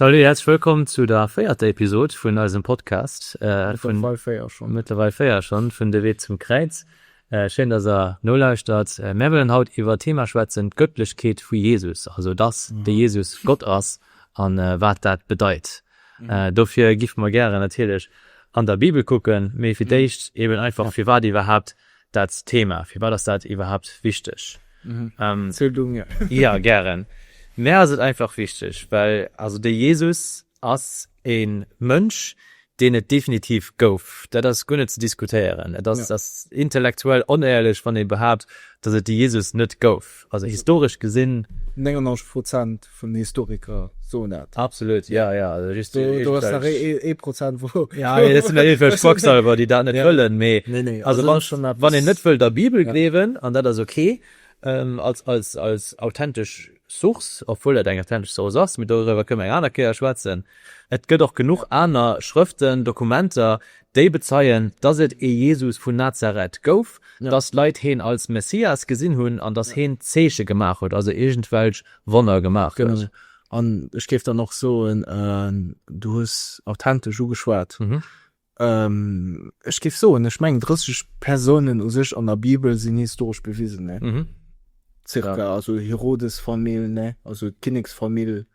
Salut, herzlich willkommen zu der véierter Episode vun eisem Podcast. Äh, vun Wal Féier schon. Mittlerweile Féier schon, vun De Wee zum Kräiz. Äh, schön, dass er no lauschtert. Äh, mir wollen haut iwwer Thema schwätzen, d'Göttlechkeet vu Jesus. Also, dass mhm. de Jesus Gott ass an äh, wat dat bedeit. Dofir giffe mer gären natierlech an der Bibel kucken, mee fir d'éischt eben einfach, firwat iwwerhaapt dat Thema, firwat ass dat iwwerhaapt wichteg? Jo, gären. Mär ass et einfach wichteg, well also de Jesus ass e Mënsch, deen et definitiv gouf, dat ass guer net ze diskutéieren. Et ass intellektuell onéierlech, wann ee behaapt, datt et de Jesus net gouf. Also historesch gesinn. 99 Prozent vun den Historiker soen dat. Absolut, ja, ja. Also just do. Do ass nach ee Prozent wou. Ja, mee dat sinn dann eventuell Quacksalber, déi dat net wëllen. Mee. Nee, nee. Also wann schonn eppes. Wann een net wëll der Bibel gleewen, an dat ass ok, als authentesch Source, obwuel dat eng authentesch Source ass, mee doriwwer kënnen mer eng aner Kéier schwätzen, et gëtt och genuch aner Schrëften, Dokumenter, Déi bezeien, dass et ee Jesus vun Nazareth gouf, dass d'Leit heen als Messias gesinn hunn an dass heen Zeeche gemaach huet, also iergendwelch Wonner gemaach huet. An ech géif dann och soen, du hues authentesch ugeschwat, ech géif soen, ech mengen 30 Persounen u sech an der Bibel sinn historesch bewisen, ca. Also Herodes-Famill, also d'Kinneksfamill.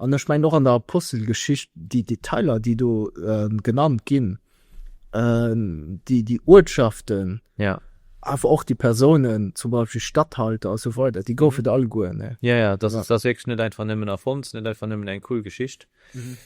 An ech mengen och an der Apostelgeschicht, déi Detailer, déi do genannt ginn, déi Uertschaften, awer och déi Persounen, zum Beispill Statthalter a sou weider, déi goufen et alleguer. Ne? Jo, jo, dat ass wierklech net einfach nëmmen erfonnt, net einfach nëmmen eng cool Geschicht.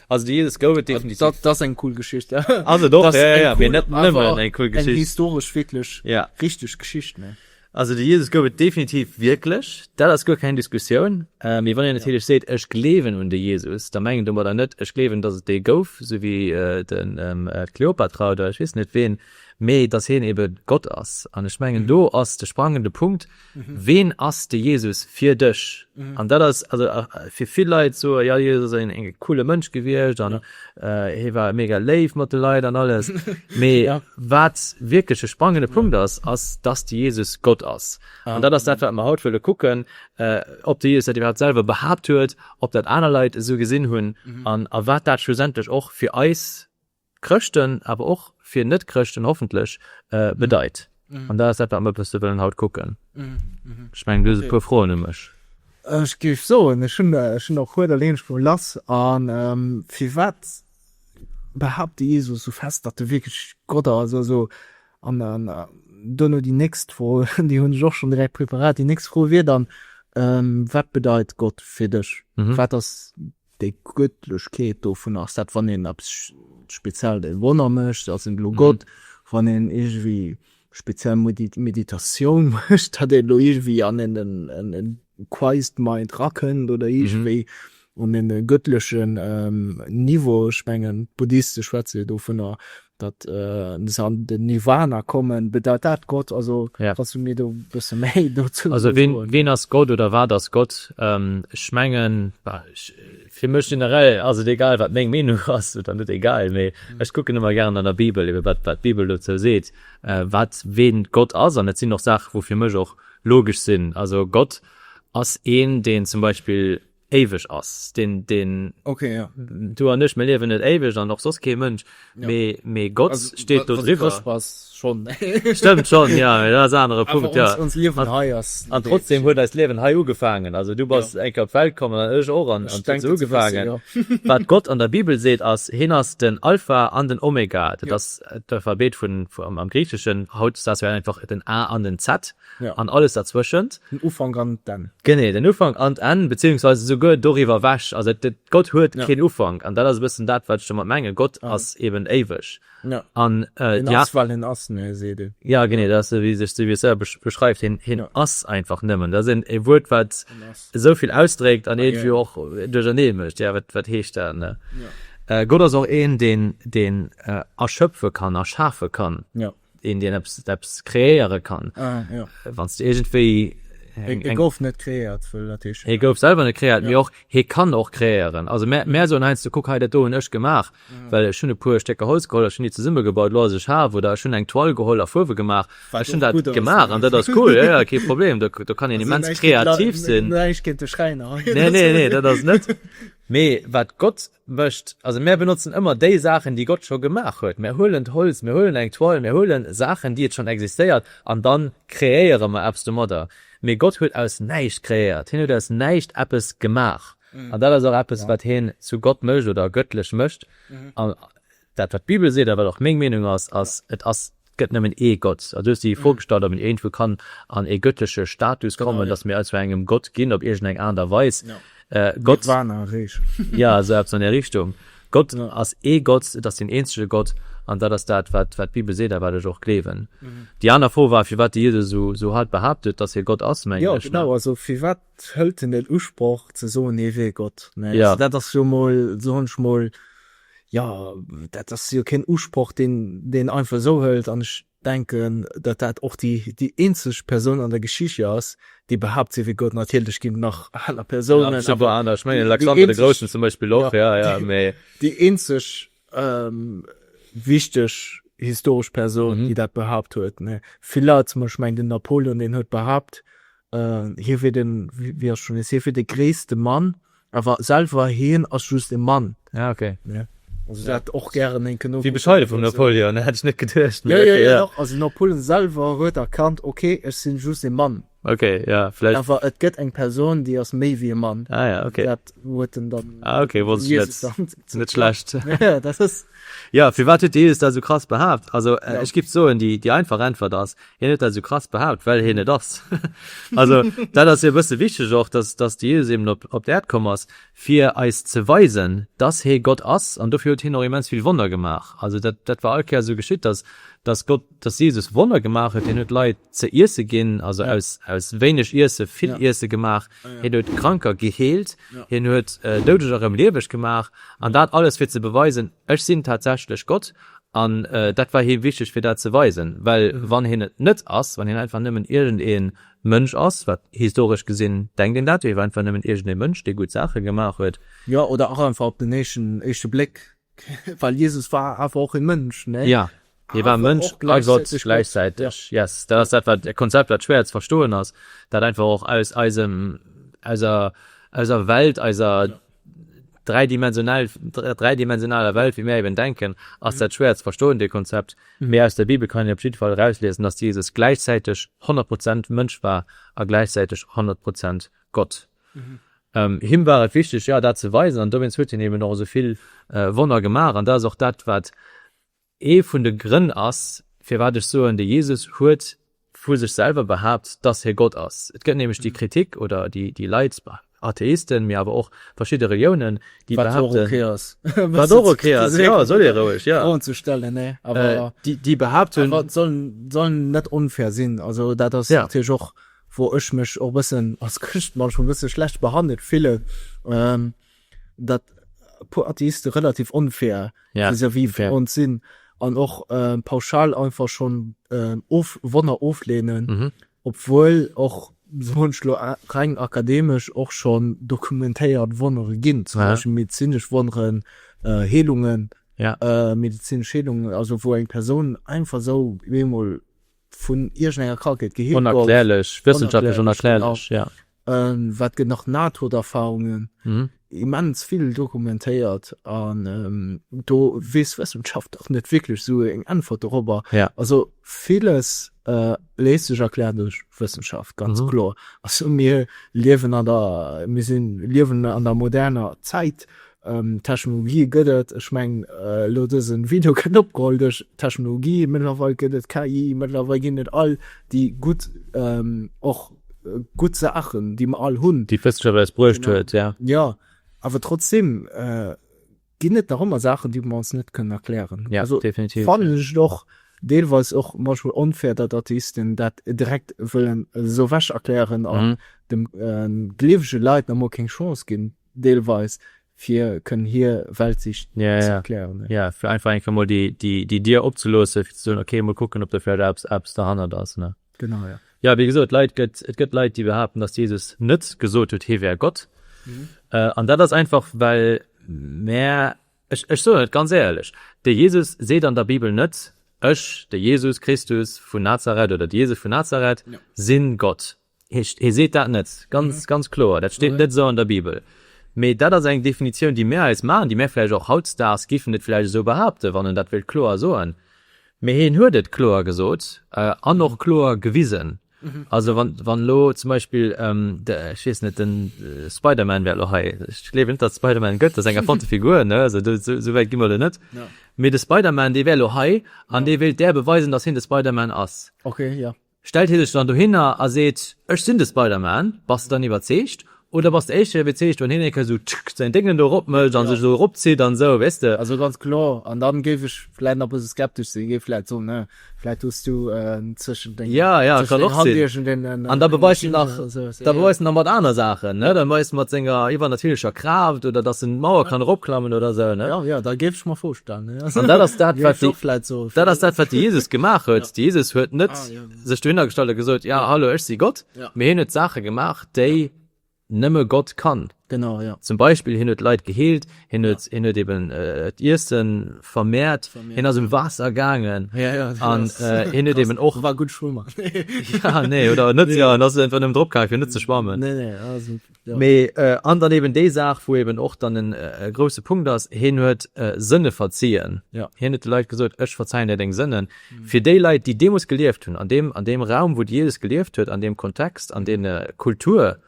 Also déi Ieles gouf et definitiv. Dat ass eng cool Geschicht. Ass et och, jo, jo, mee net nëmmen eng cool Geschicht. Eng historesch wierklech richteg Geschicht. Ne? Also de Jesus gouf et definitiv wierklech, dat ass guer keng Diskussioun. Mee wann een natierlech seet, ech gleewen un de Jesus, da mengen domadder net, ech gleewen, datt et dee gouf, sou wéi d'Kleopatra oder ech weess net ween, mee datt hien ebe Gott ass. An ech mengen, do ass de sprangende Punkt, Ween ass de Jesus fir dech? An dat ass also fir vill Leit soe, jo, de Jesus ass en coole Mënsch gewiescht. Hie war mega léif mat de Leit an alles. Mee wat wierklech e sprangende Punkt ass, ass, dass de Jesus Gott ass. An dat ass dat, wat mer haut wëlle kucken, ob de Jesus dat iwwerhaapt selwer behaapt huet, ob dat aner Leit esou gesinn hunn an a wat dat schlussendlech och fir eis Chrëschten, awer och fir Net-Chrëschten hoffentlech bedeit. An dat ass dat, wat mer e bësse wëllen haut kucken. Ech mengen, du hues e puer Froen u mech. Ech géif soen, ech hunn der e puer, da leen ech emol lass. A firwat behaapt de Jesus esou fest, datt e wierklech Gott ass? Also, an duerno déi nächst Fro, déi hunn ech och schonn direkt preparat, déi nächst Fro wier dann, Wat bedeit Gott fir dech? Wat ass. Déi Gottlechkeet dovun ass dat, wann een eppes speziell de Wonner mécht, ass en elo Gott. Wann een iergendwéi speziell Meditatioun mécht, datt een elo iergendwéi an en Christ Mind erakënnt oder iergendwéi un e gëttlechen Niveau. Ech mengen, d'Buddhiste schwätze jo dovunner, datt se an den Nirwana kommen, bedeit dat Gott? Also yeah. kannst du mir do bësse méi dozou also ween, ween ass Gott oder wat ass Gott? Ähm, ech mengen fir mech generell ass et egal wat meng Meenung ass oder net egal méi mhm. ech kucken immer gern an der Bibel iwwer wat wat Bibel dozou seet äh, wat ween Gott ass an net sinn noch Saach wo fir mech och logisch sinn also Gott ass een den zum Beispiel éiweg ass. Deen, deen. Okay, ja. Du an ech, mir liewen net éiweg an och soss kee Mënsch. Mee, mee Gott steet do driwwer. Wa s Chrëscht bass, schonn. Stëmmt schonn, jo, mee dat ass en anere Punkt, jo. Awer ons Liewen hei ass. An trotzdeem huet eist Liewen hei ugefaangen. Also du bass eng Kéier op d'Welt komm an ech och an et huet ugefaangen. Wat Gott an der Bibel seet ass, Hien ass den Alpha an den Omega. Dat ass d'Alphabet vun, am Griicheschen, haut, s dat wär einfach den A an den Z. Ja. An alles derzwëschent. Den Ufank an d'Enn. Genee, den Ufank an d'Enn, beziehungsweise souguer doriwwer ewech. Also et, et, Gott huet Ja. keen Ufank. An dat ass e bëssen dat, wat ech domat mengen. Gott Ja. ass eben éiweg. Ja. An äh, En déi a-. ass, well en ass, ne, seet ee. Ja, genee, dat ass esou, wéi sech, esou wéi e selwer besch, beschreift. Hien, hien Ja. ass einfach nëmmen. Dat ass een, e Wuert, wat En ass. esou vill ausdréckt an Ah, iergendwéi jo. och duerchernee mécht. Ja, wat, wat heescht dat, ne? Ja. Äh, Gott ass och een, deen, deen äh, erschëpfe kann, erschafe kann. Ja. een deen eppes eppes kreéiere kann ah, ja. wann du irgendwéi e gouf net kreiert e gouf selber net kreiert mir och he kann och kreieren also mehr mehr so ein ze kuck hei dat do ech gemacht mhm. well schon e puer stecker holz geholl schon die zesumme gebaut lo sech ha wo da schon eng toll geholl a fuwe gemacht war schon dat gemacht an dat das cool ja, ja kein problem da, da kann den immens kreativ sinn ne ne ne dat das net me wat gott Mécht. Also mär benotzen ëmmer déi Saachen, déi Gott scho gemaach huet. Mär huelen d'Holz, mär huelen eng Toile, mär huelen Saachen, déi et schonn existéiert, an dann kreéiere mer eppes domadder. Mee Gott huet aus näischt kreéiert. Hien huet aus näischt eppes gemaach. An dat ass och eppes, wat hien zu Gott mécht oder gëttlech mécht. Dat wat d'Bibel seet a wat och meng Meenung ass, ass, et ass, et gëtt nëmmen ee Gott. Also du hues déi Fro gestallt, ob een iergendwou kann an ee göttleche Status kommen, datt mir also engem Gott ginn op iergendeng Aart a Weis. Gott, jo esou eppes an där Richtung, Gott ass ee Gott, et ass deen eenzege Gott an dat ass dat wat d'Bibel seet a wat ech och gleewen. Déi aner Fro war firwat de Jesus esou hard behaapt huet, datt hie Gott ass, mengen ech, ne? Firwat hëlt en den Usproch ze soen, hie wier Gott? Dat ass jo mol, soen ech mol, Jo, dat ass jo keen Usproch, deen een einfach esou hëlt. An ech denken, datt dat och déi eenzeg Persoun an der Geschicht jo ass, déi behaapt, si wier Gott. Natierlech ginn et nach aner Persounen, mee déi eenzeg wichteg historesch Persoun, déi dat behaapt huet. Vill Leit, zum Beispill, ech mengen, den Napoleon, deen huet behaapt, hie wier de gréisste Mann, Awer selwer heen ass just e Mann. Ah ok. Also dat och gären énken nokucken. Wéi bescheiden vum Napoleon, hätt ech net geduecht. Jo jo jo doch, also Napoleon selwer huet erkannt, ok ech sinn just e Mann. Ok ja vläicht. Awer et gëtt eng Persoun déi ass méi wéi e Mann. Ah ja ok. Dat huet en dann. Ah ok wosst ech net. Jesus. Net schlecht. Jo dat ass. Jo firwat huet de Jesus dat esou krass behaapt? Also ech giff soen déi einfach Äntwert ass, Hien huet dat sou krass behaapt, well hien et ass. Also, dat ass jo e bësse wichteg och, dass, dass de Jesus eben op, op d'Äerd komm ass, fir eis ze weisen, dass hie Gott ass. An dofir huet hien och immens vill Wonner gemaach. Also dat, dat war all Kéier esou geschitt, dass, dass Gott, dass Jesus Wonner gemaach huet. Hien huet Leit ze iesse ginn, also aus, aus wéineg Iesse vill Iesse gemaach. Hien huet Kranker geheelt. Hien huet Doudeger erëm lieweg gemaach. An dat alles, fir ze beweisen, Ech sinn tatsächlech Gott. An dat war him wichteg fir dat ze weisen, well wann hien et net ass, wann hien einfach nëmmen iergend ee Mënsch ass, wat historesch gesinn denkt een dat jo, hie war einfach nëmmen iergend ee Mënsch, dee gutt Saache gemaach huet. Jo, oder och einfach op den éischte Bléck, well Jesus war awer och ee Mënsch, ne? Jo, hie war Mënsch a Gott gläichzäiteg. Yes, dat ass dat wat e Konzept wat schwéier ze verstoen ass, dat einfach och aus eiser Welt, eiser dräidimensionell dräidimensionaler Welt wéi mir eben denken, ass dat schwéier ze verstoen, dee Konzept. Mee aus der Bibel kann een op jidde Fall erausliesen, dass Jesus gläichzäiteg 100 Prozent Mënsch war a gläichzäiteg 100 Prozent Gott. Him war et wichteg, jo, dat ze weisen, an dowéinst huet hien eben och esou vill Wonner gemaach. An dat ass och dat, wat Ee vun de Grënn ass, firwat ech soen, de Jesus huet vu sech selwer behaapt, dass hie Gott ass. Et gëtt nämlech déi Kritik oder déi Leit, Atheisten, mee awer och verschidde Reliounen, déi behaapten, wat och ok ass, jo, soll ee roueg, jo, Froen ze stellen, nee, awer déi behaapten, awer et soll soll net onfair sinn, also dat ass natierlech och, wou ech mech och e bëssen als Chrëscht manchmal e bësse schlecht behandelt fillen. dat e puer Atheiste relativ onfair vis-à-vis vun ons sinn an och pauschal einfach schonn Wonner ofleenen, obwuel och sou munch lo reng akademesch och schonn dokumentéiert Wonnere ginn, zum Beispill medezinesch Wonneren, Heelungen, medezinesch Heelungen, also wou eng Persoun einfach sou bemol vun iergendenger Krankheet geheelt gouf. Onerklärlech, wëssenschaftlech onerklärlech, ja. Wat gëtt nach Nahtoderfarungen, immens vill dokumentéiert an do weess d'Wëssenschaft och net wierklech esou eng Äntwert dorobber. Also villes léisst sech erklären duerch Wëssenschaft, ganz kloer. Also mir liewen an der, mir sinn, liewen an der moderner Zäit, Technologie gëtt et, ech mengen elo dësen Video kënnt opgeholl duerch Technologie. Mëttlerweil gëtt et KI, mëttlerweil ginn et all déi gutt och gutt Saachen déi mer all hunn, déi d'Wëssenschaft eis bruecht huet, jo. Jo, awer trotzdem ginn et nach ëmmer Saachen déi mer ons net kënnen erklären. Jo, definitiv. Also fannen ech et och deelweis och manchmol onfair datt Atheisten dat direkt wëllen esou ewech erklären an de gleewege Leit nach emol keng Chance ginn. Deelweis, fir kënnen hir Weltsicht ze erklären. Jo, fir einfach eng Kéier mol déi Dier opzeloossen, fir ze soen, okay, mol kucken, ob do vläicht eppes derhannert ass. Genau, jo. Jo, wéi gesot, Leit gëtt, et gëtt Leit, déi behaapten, dass Jesus net gesot huet, hie wär Gott. An dat ass einfach, well mär, ech soen et ganz éierlech, de Jesus seet an der Bibel net, Ech, de Jesus Christus vun Nazareth oder de Jesus vun Nazareth, sinn Gott. Heescht, hie seet dat net ganz, ganz kloer, dat steet net esou an der Bibel. Mee dat ass eng Definitioun, déi mir eis maachen, déi mir vläicht och hautdesdaags géifen et vläicht esou behaupten, wann en dat wéilt kloer soen. Mee hien huet et kloer gesot an och kloer gewisen. Also wann elo zum Beispill, ech weess net, de Spider-Man wär elo hei, ech gleewen net, datt et de Spider-Man gëtt, dat ass eng erfonnte Figur, esou wäit gi mer elo net, mee de Spider-Man, dee wär elo hei an dee wéilt där beweisen, datt hien de Spider-Man ass. Stellt hie sech dann dohinner a seet, Ech sinn de Spider-Man, bass de dann iwwerzeegt? Oder bass de éischt erëm iwwerzeegt, wann hien eng Kéier esou tschk säin Déngelen do eropmécht a sech esou eropzitt an esou, weess de? Also ganz kloer. An da géif ech vläicht nach e bësse skeptesch sinn, géif vläicht soen, Hm, vläicht hues du en tëschent deng Hand iergend een Maschinchen oder esou eppes. An da beweist en nach, da beweist en nach mat aner Saachen, ne? Da beweist en mat senger iwwernatierlecher Kraaft oder dass en d'Mauer kann eropklammen oder esou, ne? Jo, jo, dat géif ech mer virstellen. An dat ass dat, wat de, dat ass dat, wat de Jesus gemaach huet. De Jesus huet net sech dohinner gestallt a gesot, Ja, hallo, ech si Gott, mee hien huet Saache gemaach, déi nëmme Gott kann. Zum Beispill, hien huet Leit geheelt, hien huet, hien huet eben d'Iesse vermehrt, hien ass um Waasser gaangen an hien huet eben och, war gutt Schwëmmer, nee, oder net, jo, en ass einfach nëmmen drop gaangen, fir net ze schwammen. Ja. Mee äh, an dann eben déi Saach, wou eben och dann en äh, grouse Punkt ass, heen huet äh, Sënne verzien. Ja. Hien huet de Leit gesot, ech verzeien dir deng Sënnen. Mhm. Fir déi Leit, déi deemoos gelieft hunn, an dem, an dem Raum, wou Jesus gelieft huet, an dem Kontext, an mhm. de äh, Kultur,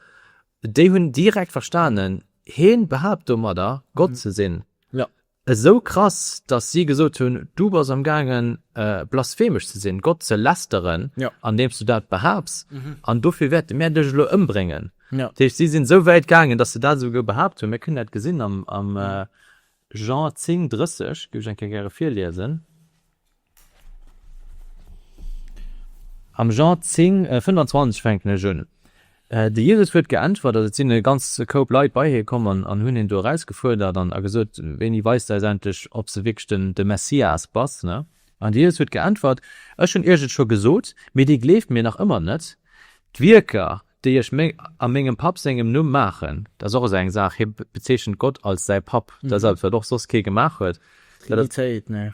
déi hunn direkt verstanen, heen behaapt domadder, Gott mhm. ze sinn. Esou krass, dass si gesot hunn, Du bass am gaangen, blasphemesch ze sinn, Gott ze lästeren, andeems du dat behaaps, an dofir wäerte mär dech elo ëmbréngen. Dat heescht, si sinn esou wäit gaangen, dass se dat esouguer behaapt hunn. Mir kënnen dat gesinn am Jean 10, 30, géif ech eng Kéier gäre virliesen. Am Jean 10, 25 fänken ech un. De Jesus huet geäntwert, also et sinn e ganze Koup Leit bei hie komm an hunn hien do erausgefuerdert an a gesot, Wéini weis de eis endlech, ob s de wierklech den, de Messias bass? Ne? An de Jesus huet geäntwert, Ech hunn iech et scho gesot, mee dir gleeft mir nach ëmmer net. D'Wierker, déi ech a mengem Papp sengem Numm maachen, dat ass och esou eng Saach, hie bezeechent Gott als säi Papp, dat ass eppes, wat och soss kee gemaach huet. Trinitéit, ne?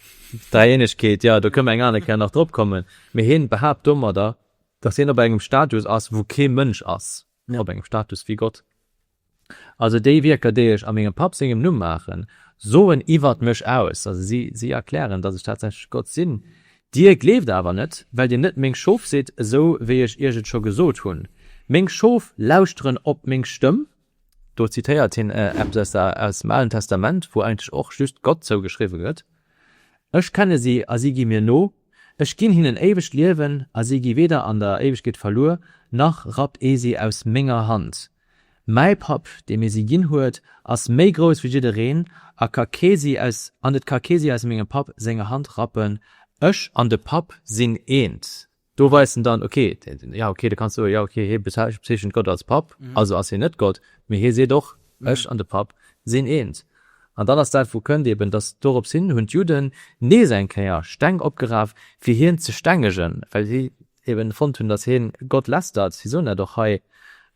Dräieenegkeet, jo, do kënne mer eng aner Kéier nach drop kommen. Mee hie behaapt domadder, datt hien op engem Status ass, wou kee Mënsch ass, op engem Status wéi Gott. Also déi Wierker, déi ech a mengem Papp sengem Numm maachen, soen iwwert mech aus, also si erklären, datt ech tatsächlech Gott sinn. Dir gleeft awer net, well dir net meng Schof sidd, esou wéi ech iech et scho gesot hunn. Meng Schof lauschteren op meng Stëmm. Do zitéiert hien eppes aus dem Alen Testament, wou eigentlech och just Gott zougeschriwwe gëtt, Ech kenne si, a si gi mir no. Ech ginn hinnen éiwegt Liewen, a si gi weder an der Éiwegkeet verluer, nach rappt ee si aus menger Hand. Mäi Papp, dee mir si ginn huet, ass méi grouss wéi jiddereen a ka kee si aus an et ka kee si aus mengem Papp senger Hand rappen. Ech an de Papp sinn eent. Do weist en dann, ok, jo, ok, du kanns soen, jo, ok, hie bezeechent Gott als Papp, also ass hien net Gott, mee hie seet och, ech an de Papp sinn eent. An dann ass dat, wou kënnt eeben, dass dorops hin hunn d'Judden nees eng Kéier Steng opgeraf, fir hien ze stengegen, well si eben fonnt hun dass heen Gott lästert, sie soen dat och hei,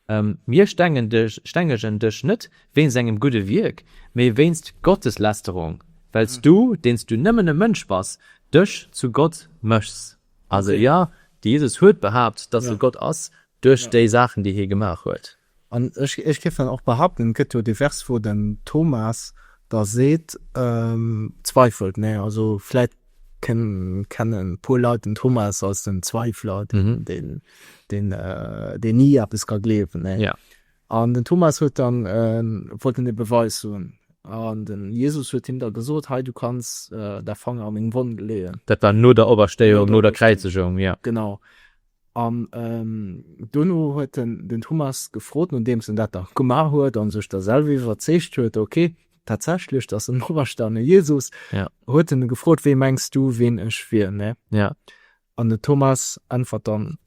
Mir stengegen dech net wéinst engem gudde Wierk, mee wéinst Gotteslästerung, wells du, deens du nëmmen e Mënsch bass, dech zu Gott mëchs. Also jo, de Jesus huet behaapt dass e Gott ass duerch déi Saachen déi hie gemaach huet. An ech géif dann och behaupten, et gëtt jo divers, wou den Thomas da seet, zweifelt, mä also vläicht kennen e puer Leit den Thomas als den Zweifler, deen ni eppes ka gleewen. An den Thomas huet dann, wollt en e Beweis hunn, an den Jesus huet him da gesot, Hei, du kanns dä Fanger a meng Wonn leeën. Dat war no der Operstéiung, no der Kräizegung, jo. Genau. An dono huet en den Thomas gefrot, nodeems en dat da gemaach huet a sech da selwer iwwerzeegt huet, ok, tatsächlech, dat ass en operstane Jesus, huet en e gefrot, Wee mengs du, ween ech wier? An den Thomas äntwert dann,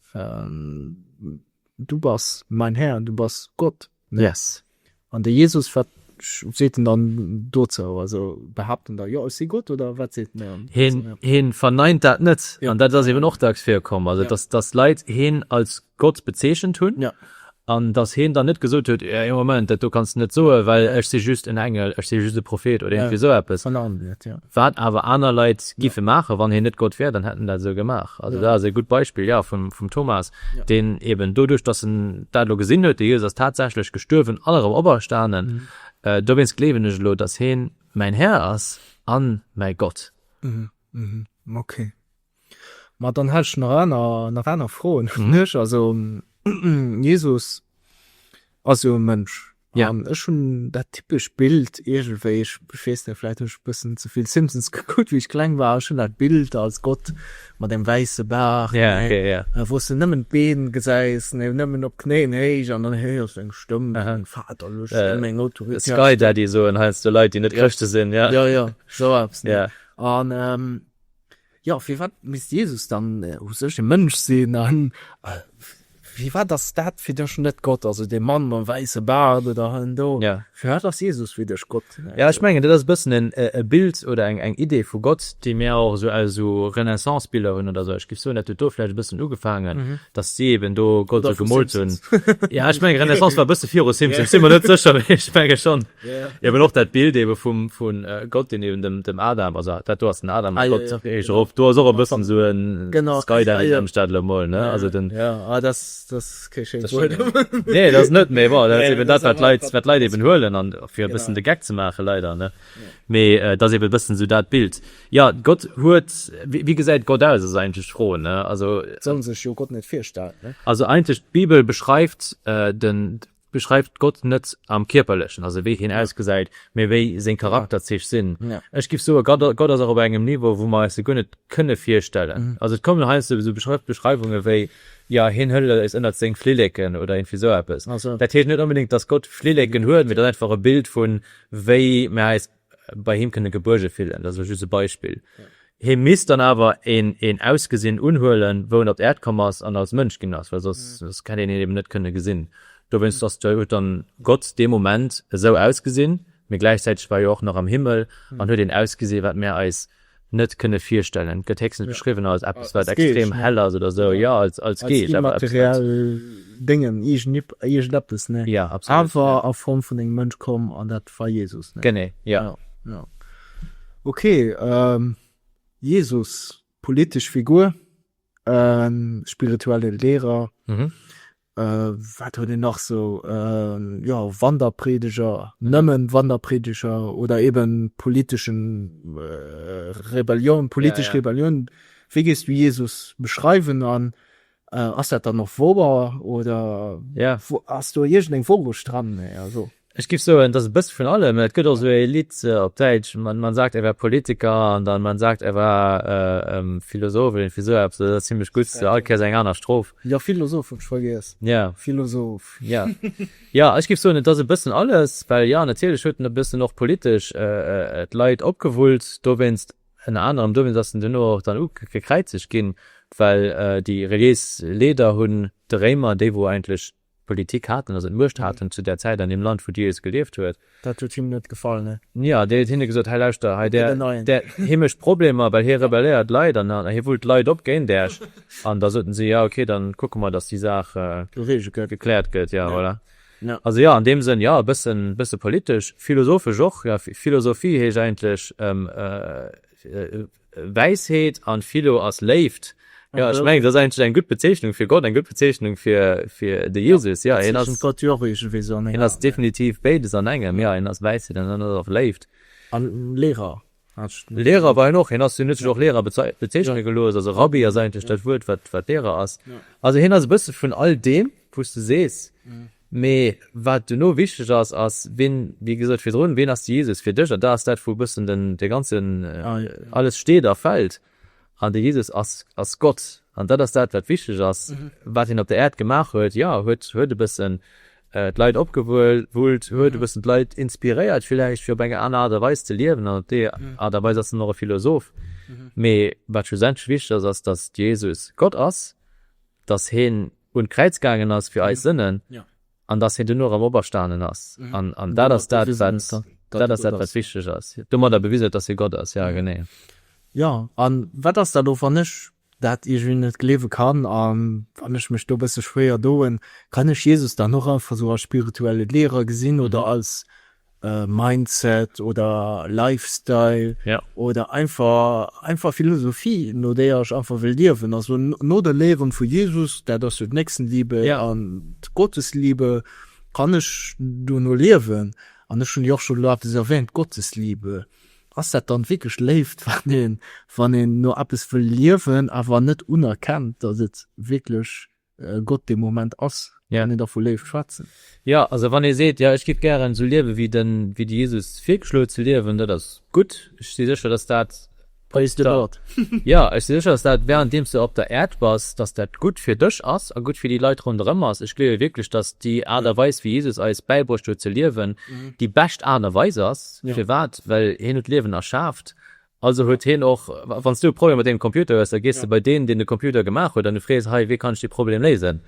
Du bass mäin Här, du bass Gott. Yes. An de Jesus, wat seet en dann dozou? Also behaapt en da, jo, ech si Gott, oder wat seet en dann? Hien, hien verneint dat net. Ja. An dat ass eben och dacks virkomm, also dass, dass Leit hien als Gott bezeechent hunn. Ja. An dass hien dann net gesot huet, Ee Moment, dat do kanns de net soen, well ech si just en Engel, ech si just e Prophet oder iergendwéi esou eppes. Verneint net, jo. Wat awer aner Leit giffe maachen, wann hien net Gott wär, dann hätt en dat esou gemaach. Also dat ass e gutt Beispill, jo, vum Thomas, deen eben doduerch, datt en dat elo gesinn huet, de Jesus ass tatsächlech gestuerwen an erëm operstanen, dowéinst gleewen ech elo, datt hien mäin Här ass a mäi Gott. Ok. Ma dann hätt ech nach aner, nach aner Froen un iech. Also Jesus ass jo e Mënsch. Ja. An ech hunn dat typescht Bild iergendwéi, ech weess net, vläicht hunn ech e bëssen ze vill Simpsons gekuckt wéi ech kleng war, ech hunn dat Bild als Gott mat engem wäisse Baart, Ja, ja, ja. wou s de nëmmen d'Been gesäis, ne, nëmmen op Knéien héich, an dann héiers du eng Stëmm, Meng Vater, luesch mir meng Autoritéit op. Sky Daddy soen heiansdo Leit, déi net Chrëschte sinn, ja. Jo, jo, esou eppes, ne? Ja. An Jo, firwat misst Jesus dann u sech e Mënsch sinn? A firwat ass dat fir dech net Gott? Also dee Mann mam wäisse Baart oder en do? Jo. Firwat ass Jesus fir dech Gott? Jo, ech mengen, dat ass e bëssen en e Bild oder eng eng Idee vu Gott, déi mir och esou aus esou Renaissance-Biller hunn oder esou. Ech géif soen, dat huet do vläicht e bëssen ugefaangen, datt si eben do Gott esou gemoolt hunn. Oder vu Simpsons. Jo, ech mengen, Renaissance war e bësse viru Simpsons, sinn mer net sécher, mee ech menge schonn. Eben och dat Bild eben vum, vun Gott deen eben dem, dem Adam, also dat do ass den Adam mat Gott eréischt erop, do ass och e bëssen sou en Skydiving ëm Stadler emol ne, also den, jo ah dat, dat ass kee schéint Wuert, nee dat ass net, mee bon dat ass eben dat wat d'Leit, wat d'Leit eben huelen an fir e bëssen de Geck ze maachen leider ne, mee et ass eben e bëssen sou dat Bild. Jo Gott huet, wéi gesäit Gott aus ass eigentlech d'Fro ne, also. Soll sech jo Gott net virstellen ne. Also eigentlech d'Bibel beschreift den, Beschreift Gott net am Kierperlechen, also wéi hien ausgesäit, mee wéi seng Charakterzich sinn. Ech giff soe Gott ass och op engem Niveau, wou mer eis se guer net kënne virstellen. Also et kommen heiansdo esou Beschreiwunge wéi, jo, hien hëlt eis ënnert seng Flilleken oder iergendwéi esou eppes. Dat heescht net onbedéngt, datt Gott Flilleken huet, mee et ass einfach e Bild vun, wéi mer eis bei him kënne gebuerge fillen, dat ass elo just e Beispill, hie misst dann awer een Ausgesinn unhuelen, wou en op d'Äerd komm ass an als Mënsch ginn ass, well soss hätt een hien eben net kënne gesinn. Dowéinst ass jo, huet dann Gott dee Moment esou ausgesinn, mee gläichzäiteg war e jo och nach am Himmel an huet een Ausgesinn, wat mär eis net kënne virstellen. Gëtt héchstens beschriwwen als eppes wat extrem hell ass oder esou, jo als Geesch awer eppes wat. Immateriell Déngen, iergendeppes, ne? Jo, absolut. Awer a Form vun engem Mënsch komm an dat war Jesus, ne? Genee, jo. Jo. Ok, Jesus, politesch Figur, spirituelle Lehrer, Wat huet een nach sou, jo Wanderpredeger, nëmmen Wanderpredeger oder eben politeschen Rebellioun, politesch Rebellioun. Wéi géifs du Jesus beschreiwen an ass dat dann och wouer oder ass do iergendeng Wourecht dran? Ech giff soen, et ass e bësse vun allem. Et gëtt och esou ee Lidd op Däitsch, Man sagt, er wär Politiker an dann Man sagt, er war Philosoph oder iergendwéi esou eppes. Dat ass zimmlech gutt, all Kéiers eng aner Strof. Jo, Philosoph hunn ech vergiess. Jo. Philosoph. Jo. Jo, ech giff soen, et ass e bëssen alles, well jo, natierlech huet en e bëssen och politesch d'Leit opgewullt dowéinst. Ënner anerem dowéinst ass en duerno och dann ugekräizegt ginn, well déi reliéis Leeder hunn de Réimer, déi wou eigentlech Politik haten, also d'Muecht haten zu där Zäit an deem Land, wou Dee es gelieft huet. Dat huet him net gefall, ne? Jo, dee huet hinne gesot, Hei, lauschter, hei, där, där, hie mécht Problemer, well hie rebelléiert d'Leit an hie wullt d'Leit op géint Äech. An da soten si, Jo, okay, dann kucke mer, datt déi Saach gekläert gëtt. Jo, voilà. Also jo, an deem Sënn, jo, e bëssen, e bësse politesch, philosophesch och, jo, Philosophie heescht eigentlech, Wäisheet an Philo ass Léift. Jo, ech mengen, dat ass eigentlech eng gutt Bezeechnung fir Gott, eng gutt Bezeechnung fir de Jesus. Jo, hien ass definitiv béides an engem. Jo, hien ass Wäisheet an hien ass och Léift. A Lehrer? Lehrer war hien och. Hien ass, hien huet sech och Lehrer bezeechne gelooss. Also Rabbi ass eigentlech dat Wuert, wat Lehrer ass. Also hien ass e bësse vun all deem, wou s de sees, Mee wat duerno wichteg ass, ass, ween, wéi gesot virdrun, ween ass de Jesus fir dech? An da ass dat, wou e bëssen den, dee ganzen, alles steet a fält. An de Jesus ass, ass Gott. An dat ass dat, wat wichteg ass, wat hien op der Äerd gemaach huet. Jo, huet, huet e bëssen d'Leit opgewuelt, huet e bëssen d'Leit inspiréiert villäicht, fir op eng aner Aart a Weis ze liewen. An op déi Aart a Weis ass en och e Philosoph. Mee wat schlussendlech wichteg ass, ass, datt de Jesus Gott ass, datt hien un d'Kräiz gaangen ass fir eis Sënnen, an dass hien duerno erëm operstanen ass, an dat ass dat, dat ass dat, wat wichteg ass. Domadder bewisen huet, dass hie Gott ass. Jo, genee. Jo, a wat ass dat och, wann ech dat iergendwéi net gleewe kann, a wann ech mech do e bësse schwéier doen? Kann ech Jesus dann och einfach esou als spirituelle Lehrer gesinn oder als Mindset oder Lifestyle oder einfach Philosophie, no där ech einfach wëll liewen. Also no de Léieren vu Jesus, dat ass jo d'Nächstenliebe an d'Gottesliebe, kann ech dono liewen. An ech hunn déi och scho elo eppes erwähnt, d'Gottesliebe. Ass dat dann wierklech Léift, wann een no eppes wëll liewen, awer net unerkennt, datt et wierklech. Gott dee Moment ass, kann een da vu Léift schwätzen? Jo, also wann ee seet, jo, ech giff gären esou liewe wéi de Jesus virgeschloen huet ze liewen, dat ass gutt. Ech si sécher, dass dat, Praise the Lord! Jo, ech si sécher, dass dat, wärend deem s de op der Äerd bass, dass dat gutt fir dech ass a gutt fir déi Leit ronderëm ass. Ech gleewe wierklech, dass déi Aart a Weis, wéi Jesus eis bäibruecht huet ze liewen, déi bescht Aart a Weis ass. Firwat? Well hien huet d'Liewen erschaaft Also huet hien och, wann s du e Problem mat deengem Computer hues, da gees de bei deen, deen de Computer gemaach huet an du frees, Hei, wéi kann ech dee Problem léisen?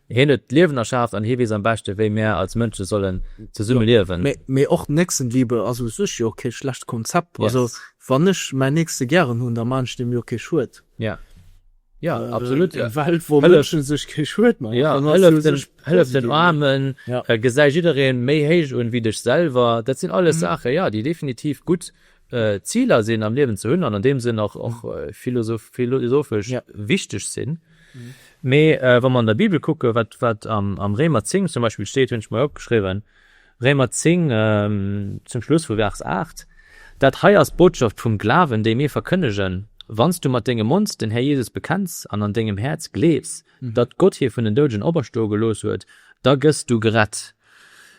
Hien huet d'Liewen erschaaft an hie weess am beschte wéi mär als Mënsche sollen zesumme liewen. Mee och Nächstenliebe ass u sech jo kee schlecht Konzept. Also wann ech mäin Nächste gären hunn, da maachen ech deem jo kee Schued. Jo, jo, absolut. Eng Welt, wou Mënsche sech kee Schued maachen, dann ass déi u sech positiv. Jo, hëllef den Aarmen, gesäi jiddereen méi héich un ewéi dech selwer, dat sinn alles Saachen, jo, déi definitiv gutt. Ziler sinn am Liewen ze hunn an an deem Sënn och philosophesch wichteg sinn. Mee wa mer an der Bibel kucke wat am Réimer 10 zum Beispill steet, hunn ech mei opgeschriwwen, Réimer 10 zum Schluss vu Vers 8, Dat hei ass d'Botschaft vum Glawen, déi mir verkënnegen, Wann s du mat dengem Mond den Här Jesus bekenns an an dengem Häerz gleefs, datt Gott hie vun den Douden operstoe gelooss huet, da gëss du gerett.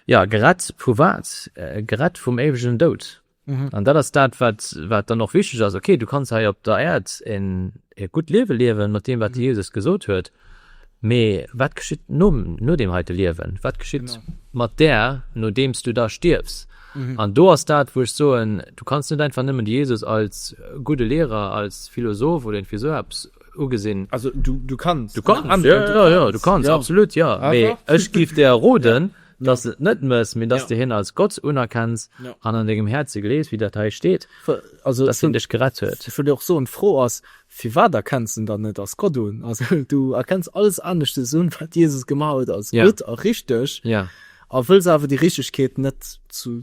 Jo, gerett vu wat? Gerett vum éiwegen Doud. Mhm. An dat ass dat, wat, wat dann och wichteg ass. Okay, du kannst hei op der Äerd en, e gutt Liewe liewen, mat deem, wat de mhm. Jesus gesot huet. Mee wat geschitt no, no dem heite Liewen? Wat geschitt genau. mat der, nodeems du da stierfs? Mhm. An do ass dat, wo ech soen, du kannst net einfach nëmmen Jesus als gute Lehrer, als Philosoph oder irgendwie so abs ugesinn. Also du, du kannst. Du kannst, ja, ja, ja, du kannst, ja. absolut, ja. Ah, Mee ech gif der Roden, ja Dass de et net méchs, mee dass de hien als Gott unerkenns an an dengem Häerze gleefs, wéi dat hei steet, dass hien dech gerett huet. Ech wëll jo och soen, d'Fro ass, Firwat erkenns de en dann net als Gott un? Also, du erkenns alles aneschtes un, wat Jesus gemaach huet, als gutt a richteg, a wëlls awer déi Richtegkeet net zu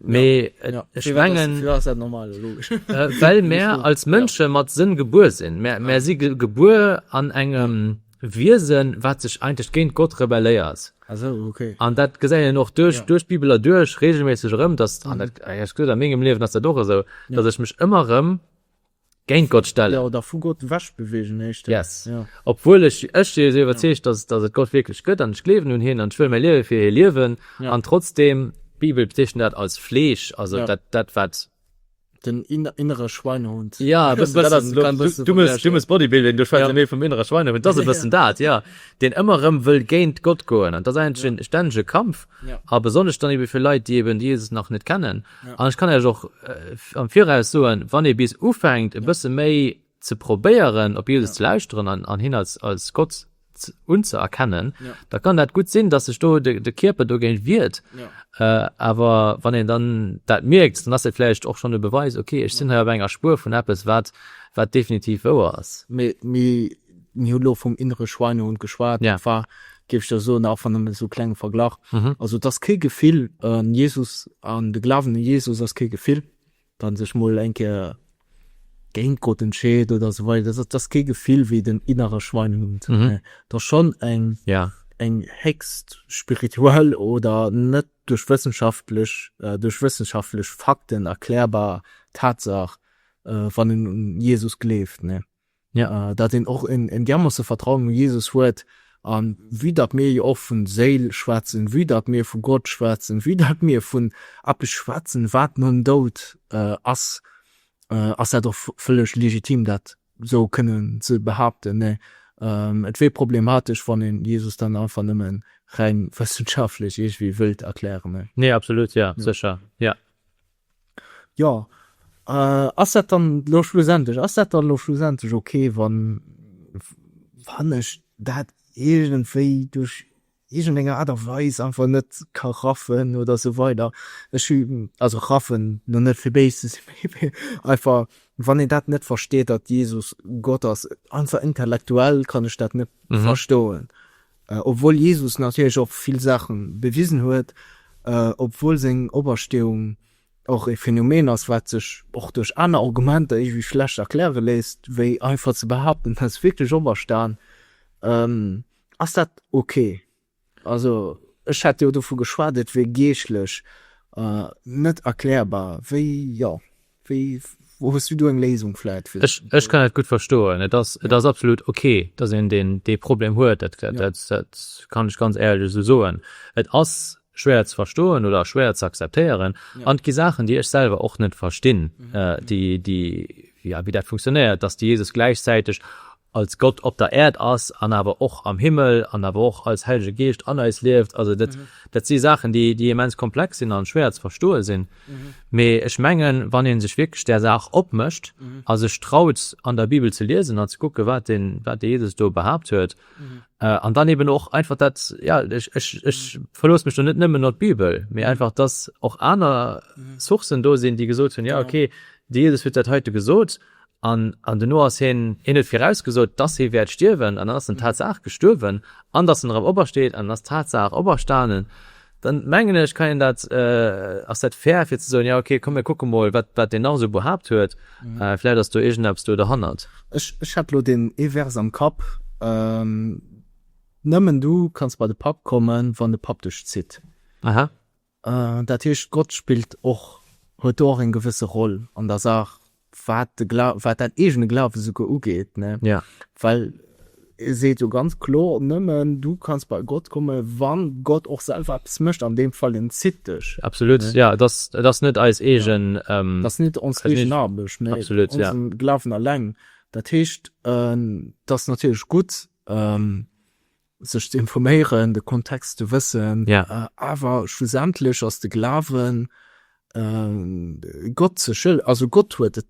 Mee ech mengen, well mär als Mënsche mat Sënn gebuer sinn, mär si gebuer an engem Wiesen, wat sech eigentlech géint Gott rebelléiert. An dat gesäit een och duerch d'Bibel erduerch reegelméisseg erëm, dass, an dat, a mengem Liewen ass dat och esou, dass ech mech ëmmer erëm Géint Gott stellen. Jo, oder vu Gott ewech bewegen heescht dat. Yes. Jo. Obwuel ech, ech si esou iwwerzeegt, dass, dass et Gott wierklech gëtt an ech gleewen un hien an ech wëll mäi Liewe fir hie liewen. Ja. An trotzdeem, d'Bibel bezeechent dat als Fleesch, also Ja. dat, dat wat. Den in, innere Schweinehund. Ja, e bëssen, dat ass elo, du, du muss, du muss Bodybuilding, du schwätz jo Ja. méi vum innere Schweinehund, et ass e bëssen dat, ja, deen ëmmer erëm wëll géint Gott goen an et ass eigentlech Ja. en stännege Kampf Ja. a besonnesch dann ebe fir Leit, déi eben de Jesus nach net kennen An ech kann Iech och am Viraus soen, wann ee bis ufänkt e bësse méi ze probéieren op Jesus ze lauschteren an hien als Gott unzëerkennen, da kann dat gutt sinn, datt sech do de Kierper dogéint wiert. Awer wann een dann dat mierkt, dann ass dat vläicht och schonn e Beweis, okay, ech sinn hei op enger Spuer vun eppes, wat definitiv wouer ass. Mir hu lo vum innere Schweinehund geschwat. Dat war, géif ech der soen, och wann nëmmen esou e klenge Verglach. Also et ass kee Gefill. Jesus an de Glawen u Jesus ass kee Gefill. Wann ee sech mol eng Kéier géint Gott entscheet oder esou weider, dat ass kee Gefill wéi den innere Schweinehund. Et ass schonn eng héchst spirituell oder net duerch wëssenschaftlech, duerch wëssenschaftlech Fakten erklärbar Tatsaach, wann een un Jesus gleeft. Ja, datt een och en diermoosse Vertrauen u Jesus huet, a vue datt mir jo och vu Séil schwätzen, vue datt mir vu Gott schwätzen, vue datt mir vun eppes schwätzen, wat nom Doud ass, ass dat och vëlleg legitim, dat esou kënnen ze behaapten. Nee, et wier problematesch, wann een Jesus dann einfach nëmme reng wëssenschaftlech iergendwéi wëllt erklären. Nee, absolut, jo, sécher, jo. Jo, ass dat dann elo schlussendlech, ass dat dann elo schlussendlech ok, wann, wann ech dat iergendwéi duerch iergendeng Aart a Weis einfach net ka raffen oder esou weider? Ech hu, also raffen, lo net fir béis ze sinn, mee einfach, wann een dat net versteet, datt Jesus Gott ass, einfach intellektuell kann ech dat net verstoen. Obwuel Jesus natierlech och vill Saache bewisen huet, obwuel seng Opersteeung och e Phänomen ass, wat sech och duerch aner Argumenter iergendwéi schlecht erkläre léisst, wéi einfach ze behaapten, hie ass wierklech operstan, ass dat ok. Also ech hätt jo dovu geschwat, et wier geeschtlech net erklärbar. Wéi, jo, Wéi, wou hues du do eng Léisung vläit fir? Ech, ech kann dat gutt verstoen. Et ass, et ass absolut ok, dass een deen, dee Problem huet. Dat, dat, dat kann ech ganz éierlech esou soen. Et ass schwéier ze verstoen oder schwéier ze akzeptéieren. An et gi Saachen, déi ech selwer och net verstinn, déi, déi, jo, wéi dat funktionéiert, dass de Jesus gläichzäiteg als Gott op der Äerd ass an awer och am Himmel an awer och als Hellege Geescht an eis lieft. Also dat, dat si Saachen, déi, déi immens komplex sinn an schwéier ze verstoe sinn. Mee ech mengen, wann ee sech wierklech där Saach opmécht a sech traut, an der Bibel ze liesen an ze kucken, wat de, wat de Jesus do behaapt huet, an dann eben och einfach dat, jo, ech, ech, ech verlooss mech do net nëmmen op d'Bibel, mee einfach, dass och aner Sourcen do sinn, déi gesot hunn, jo, okay, de Jesus huet dat heite gesot. An an duerno ass hien, hien huet virausgesot, dass hie wäert stierwen, an dann ass en tatsaach gestuerwen, an dass en erëm opersteet, an en ass tatsaach operstanen, dann, mengen ech, kann een dat, ass dat fair, fir ze soen, jo, okay, komm, mir kucke mol, wat, wat deen nach esou behaapt huet, vläicht ass do iergendeppes do derhannert. Ech, ech hat elo deen ee Vers am Kapp, Nëmmen du kanns bei de Papp kommen, wann de Papp dech zitt. Aha. Dat heescht, Gott spillt och, huet do och eng gewësse Roll an der Saach, wat de Gla-, wat dat eegene Glawen esouguer ugeet, ne? Well e seet jo ganz kloer, Nëmmen du kanns bei Gott komme wann Gott och selwer eppes mécht, an deem Fall, en zitt dech. Absolut, jo. Et ass, et ass net eis eegen. Et ass net ons eegen Aarbecht, mä onsen Glawen alleng. Dat heescht, et ass natierlech gutt, sech ze informéieren, de Kontext ze wëssen, awer schlussendlech ass de Glawen Gott ze schëll, also Gott huet et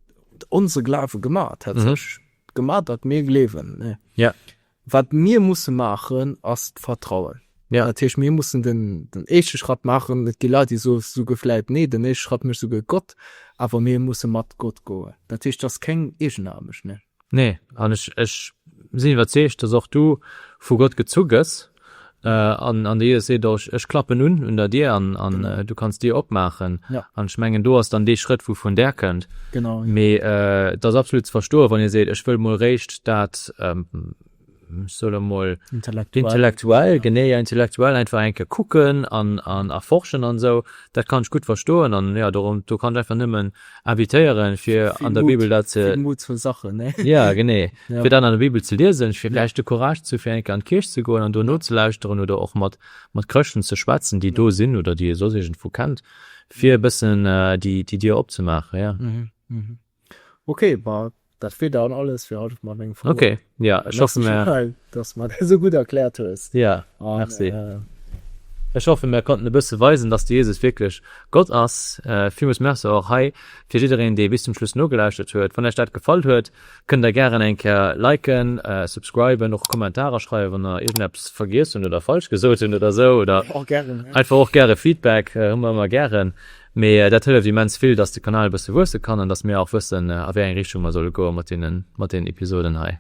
onse Glawe gemat, hat sech gemat, datt mir gleewen. Wat mir musse maachen, ass d'Vertrauen. Dat heescht, mir mussen den éischte Schratt maachen. Et gi Leit, déi soe vläicht, nee, den éischte Schratt mécht souguer Gott, awer mir musse mat Gott goen. Dat heescht, et ass keng Eegenaarbecht. Nee, an ech, ech sinn iwwerzeegt, dass och du vu Gott gezu gëss, an, an de Jesus seet och, Ech klappen un, un der Dier, an, an du kanns d'Dier opmaachen. Ja. An ech mengen, do ass dann dee Schrëtt, wou vun Där kënnt. Genau. Mee et ass absolut ze verstoen, wann ee seet, Ech wëll mol réischt dat, solle mol intellektuell genee ja intellektuell einfach enke kucken an an erforschen an sou dat kann ech gutt verstoen an ja do do kann ech einfach nëmmen invitéieren fir an der bibel dat ze mut zur sache ne ja genee fir dat an der bibel ze liesen fir vläicht de courage ze fir enke an d'kierch ze goen an do nozelauschteren oder och mat mat chrëschten ze schwätzen déi do sinn oder déi ee soss iergendwou kennt fir e bëssen déi déi dier opzemaachen ja Okay, ma dat wier dann alles fir haut op mat menge Froen. Okay, jo, ech hoffe Merci mir. Chantal, dass du mer dat esou gutt erkläert hues. Jo, An merci. äh, Ech hoffe mir konnten e bësse weisen, dass de Jesus wierklech Gott ass. Villmools Merci och hei fir jiddereen, dee bis zum Schluss nogelauschert huet. Wann Iech dat gefall huet, kënnt Der gären eng Kéier liken, subscriben, och Kommentarer schreiwen, wann Der iergendeppes vergiess hunn oder falsch gesot hunn oder esou oder och gären, einfach och gäre Feedback hu mer ëmmer gären. Mee dat hëlleft immens vill, dass de Kanal e bësse wuesse kann an dass mir och wëssen, a wéi eng Richtung mer solle goe mat deenen Episoden hei.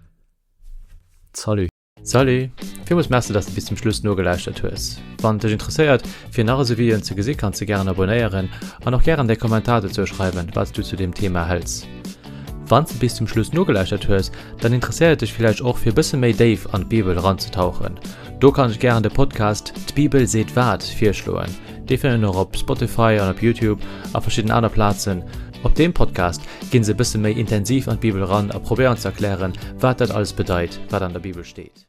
Salut! Salut! Villmools Merci, dass de bis zum Schluss nogelauschtert hues. Wann et dech interesséiert, fir nach esou Videoen ze gesi, kanns de gären abonéieren an och gären däi Kommentar dozou schreiwen, wat s du zu deem Thema hëls. Wann s de bis zum Schluss nogelauschtert hues, dann interesséiert et dech villäicht och, fir e bësse méi déif an d'Bibel eranzetauchen. Do kanns de gären de Podcast D'Bibel seet wat virschloen. Déi fënnt een och op Spotify an op Youtube a verschidden aner Plazen. Op deem Podcast ginn se e bësse méi intensiv an d'Bibel eran a probéieren ze erklären, wat dat alles bedeit, wat an der Bibel steet.